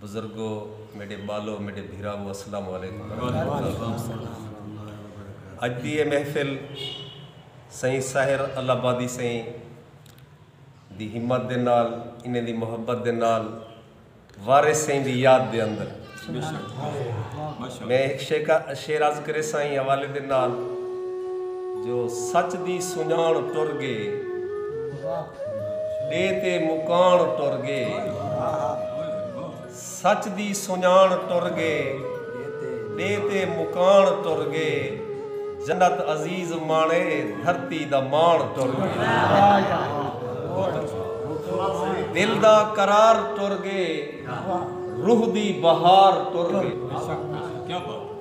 بزرگو میڈے بالو میڈے بھیراوو السلام علیکم ورحمت اللہ اج دی اے محفل سئیں ساحر اللہ آبادی سئیں دی ہمت دے نال انہیں دی محبت دے نال وارث سئیں دی یاد دے اندر میں ایک شعر عرض کرے سائیں حوالے دے نال جو سچ دی سنجان ٹر گئے ݙے تے مکاݨ ٹر ڳے سچ دی سنڄاݨ ٹر ڳے ݙے تے مکاݨ ٹر ڳے جنت عزیز ماݨے دھرتی دا ماݨ ٹر ڳے دل دا قرار ٹر ڳے روح دی بہار ٹر ڳے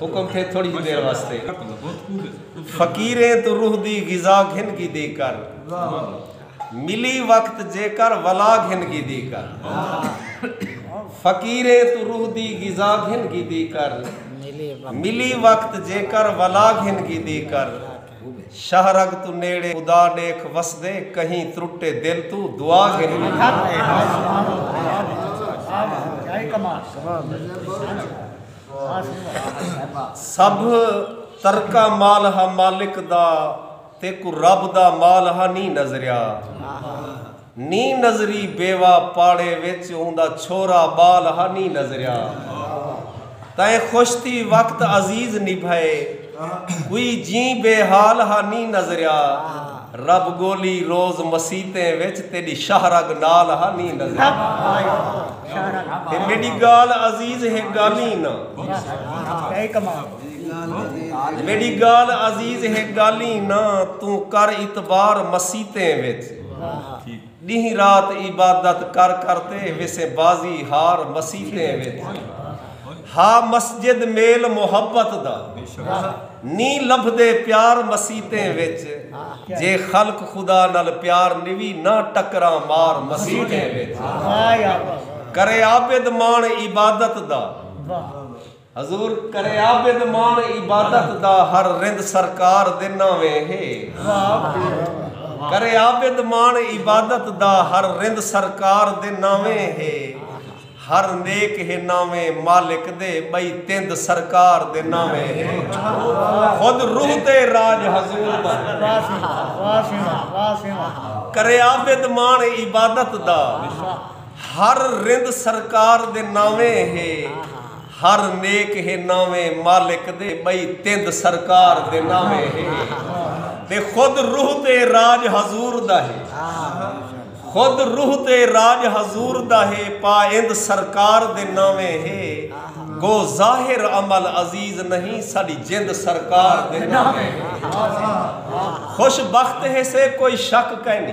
حکم تھے تھوڑی جی دیر واسطے فقیریں تو روح دی غذا گھن گی دی کر ملی وقت جے کر ولا گھن گی دی کر فقیریں تو روح دی غذا گھن گی دی کر ملی وقت جے کر ولا گھن گی دی کر شہرگ تو نیڑے خدا نیک وس دے کہیں ترٹے دل تو دعا گھن گی دی کر سبھ ترکا مال ہا مالک دا تیکو رب دا مال ہا نی نظریا نی نظری بیوا پاڑے وچ اوندا چھورا بال ہا نی نظریا تیں خوش تھی وقت عزیز نبھئے کوئی جیں بے حال ہا نی نظریا رب گولی روز مسیتیں وچ تیڈی شاہ رگ نال ہا نی نظریا تے میڈی گال عزیز ہے گالیں نہ میڈی گال عزیز ہے گالیں نہ توں کر اعتبار مسیتیں وچ ڈینہہ رات عبادت کر کر تے ویسے بازی ہار مسیتیں وچ ہا مسجد میل محبت دا نیں لبھدے پیار مسیتیں وچ جے خلق خدا نال پیار نوی نہ ٹکراں مار مسیتیں وچ کرے عابد ماݨ عبادت دا۔ حضور کرے عابد ماݨ عبادت دا ہر رند سرکار دے ناویں ہے کرے عابد ماݨ عبادت دا ہر رند سرکار دے ناویں ہے ہر نیک ہے ناویں مالک دے بئی تند سرکار دے ناویں ہے خود روح تے راج حضور دا کرے عابد ماݨ عبادت دا ہر رند سرکار دے ناویں ہے ہر نیک ہے ناویں مالک دے بئی تند سرکار دے ناویں ہے تے خود روح تے راج حضور دا ہے خود روح تے راج حضور دا ہے پا اند سرکار دے ناویں ہے گو ظاہر عمل عزیز نہیں ساڈی جند سرکار دے ناویں ہے خوش بخت ہے سے کوئی شک کائنی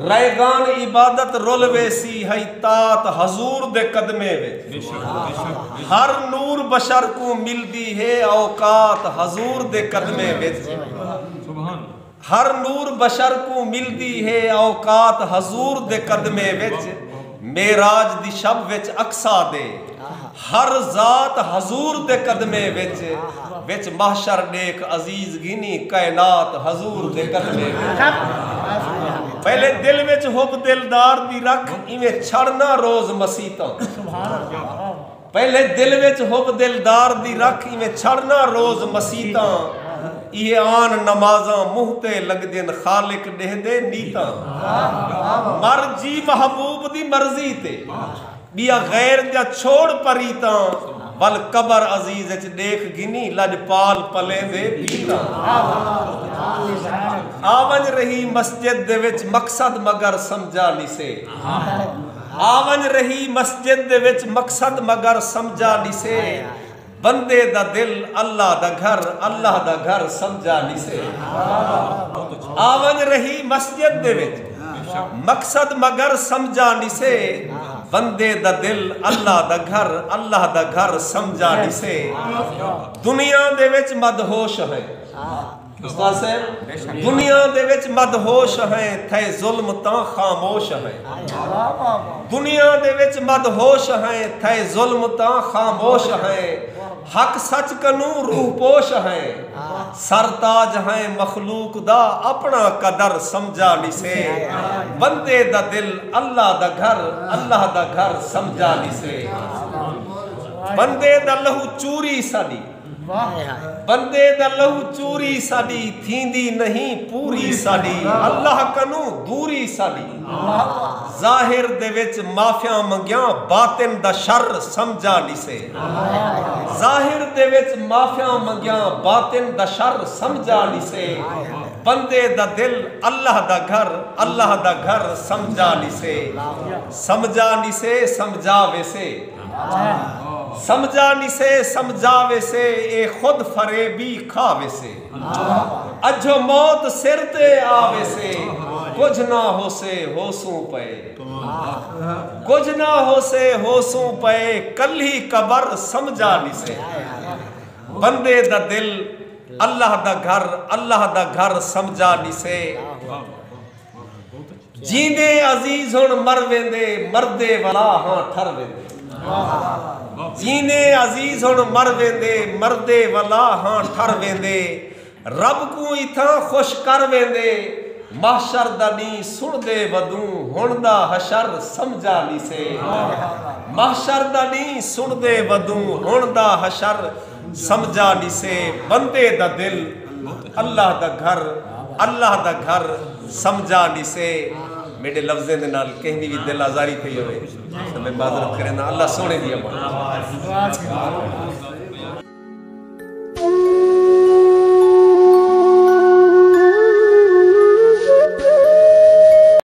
ریگان عبادت رل ویسی ہئی طاعت حضور دے قدمیں وچ ہر نور بشر کوں ملدی ہے اوقات حضور دے قدمیں وچ ہر نور بشر کوں ملدی ہے اوقات حضور دے قدمیں وچ معراج دی شب وچ اقصی دے ہر ذات حضور دے قدمیں وچ وچ محشر ݙیکھ عزیز گھنی کائنات حضور دے قدمیں وچ پہلے دل وچ حب دلدار دی رکھ ایویں چھڑ نہ روز مسیتاں پہلے دل وچ حب دلدار دی رکھ ایویں چھڑنا روز مسیتاں یہ آن نمازاں منہ تے لگدین خالق ڈہ دے نیتاں مر جی محبوب دی مرضی تے بیا غیر جا چھوڑ پریتاں ول قبر عزیز اچ دیکھ گنی لج پال پلے دے بیتاں آون رہی مسجد دے وچ مقصد مگر سمجھا نہیں سے آونج رہی مسجد دے وچ مقصد مگر سمجھا نسے بندے دا دل اللہ دا گھر اللہ دا گھر سمجھا نسے آونج رہی مسجد دے وچ مقصد مگر سمجھا نسے بندے دا دل اللہ دا گھر اللہ دا گھر سمجھا نسے دنیا دے وچ مدہوش ہے استاد صاحب دنیا دے وچ مدہوش ہیں تھے ظلم تاں خاموش ہیں دنیا دے وچ مدہوش ہیں تھے ظلم تاں خاموش ہیں حق سچ کنوں روح پوش ہیں سر تاج ہیں مخلوق دا اپنا قدر سمجھا نہیں سے بندے دا دل اللہ دا گھر اللہ دا گھر سمجھا نہیں سے بندے دا لہو چوری سالی بندے دا لہو چوری ساڈی تھیندی نہیں پوری ساڈی اللہ کنوں دوری ساڈی ظاہر دے وچ معافیاں منگیاں باطن دا شر سمجھا نسے ظاہر دے وچ معافیاں منگیاں باطن دا شر سمجھا نسے بندے دا دل اللہ دا گھر اللہ دا گھر سمجھا نسے سمجھا نسے سمجھا ویسے سمجھا نی سے سمجھا ویسے اے خود فریبی کھا ویسے اجھو موت سر تے آ ویسے کجھ نہ ہوسے ہوسوں پئے کجھ نہ ہوسے ہوسوں پئے کلھی قبر سمجھا نی سے بندے دا دل اللہ دا گھر اللہ دا گھر سمجھا نی سے جیندے عزیز ہن مر ویندے مردے ولا ہاں ٹھر ویندے جیندے عزیز ہن مر ویندے مردے ولا ہاں ٹھر ویندے رب کو اتھاں خوش کر ویندے محشر دا نہیں سن دے ودوں ہن دا حشر سمجھا نہیں سے محشر دا نہیں سن دے ودوں ہن دا حشر سمجھا ݙسے بندے دا دل بت اللہ دا گھر اللہ دا گھر سمجھا ݙسے میڈے لفظیں دے نال کہیں دی وی دل آزاری تھئی ہوے تے میں معذرت کرینداں اللہ سونے دی امان